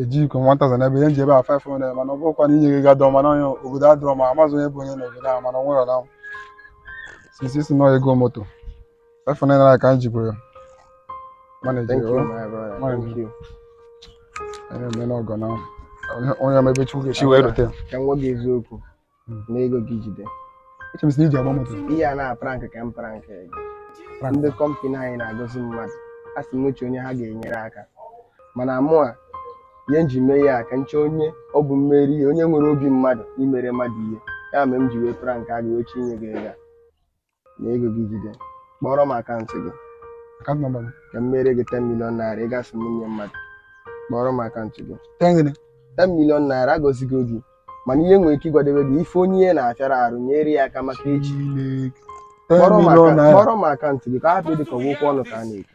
ejikwa m 1000 n'ebe ihe m ji ebe a 500 mana ọ bụrụkwa na inye gị gadọ mana onye obodo adịrọ mma amazị onye bụ onye n'obodo a mana ọ nwere since ị sị na ọ ego moto 500 naira ka m jibụrụ ya mana eji Thank you, o my brother. Why Thank not? you. onye eme n'ọgọ na onye- onye ma ebe chukwu ga-esi wee rute ya Ka m gwa gị eziokwu. nee ego gị jide ebe ị sị na iji agba moto ihe a na prank ka m prank gị Prank. ndị kọmpani anyị na-agọzi mmadụ a sị m chọọ onye ha ga-enyere aka mana mụwa ihe m ji mee ya ka m chọọ onye ọ bụ m meere ihe onye nwere obi mmadụ imere mmadụ ihe ya mere m ji wee prank a gị wee chọọ inye gị ego a. nee ego gị jide kpọrọ m akaụntụ gị Account number m. ka m meere gị 10 million naira ọga sị m nye mmadụ kpọrọ m akaụntụ gị Ten gịnị? 10 million naira agọzigo gị mana ị nwee ike ị gbada be gị ị fụ onye ihe na-afịara arụ nyere ya aka maka echi Chineke. Ten kpọrọ m million aka- naira. kpọrọ m akaụntụ gị ka ọ hapụ ịdị ka ọ bụ okwu ọnụ ka a na-ekwu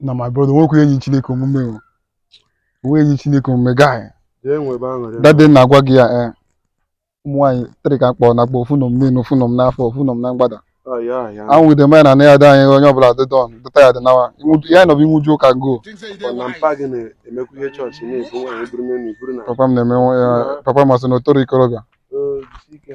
na my brother nwekwa ihe nyịrị chineke omume o nweghị ihe nyịrị chineke omume guy jee nwebe aṅụrị dade na-agwa gị ya ee ụmụ nwaanyị three ka m kpọ nakpọ ofu nọ m n'elu ofu nọ m n'afọ ofu nọ m na mgbada Oh, yeah, yeah. anwụ dị manya na na ya dị anyị onye ọbụla dị don dịta ya dị nawa Ịnwụju- ya na ọ bụ inwuju ụka go Ọ na mpa gị na-emekwa ihe chọọchị na-ebu nwaanyị buru n'elu iburu na papa m na-eme nwa ya papa m asị na o toro ikorobịa Oh, jisi ike.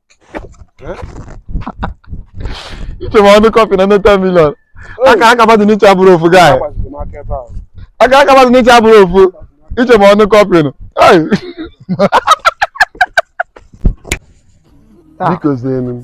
iche ma ọ ndị kọmpani na 10 million akaraka mmadụ ncha abụrọ ofu guy akaraka mmadụ ncha abụrọ ofu iche ma ọ ndị kọmpani Ai. Biko zienu m.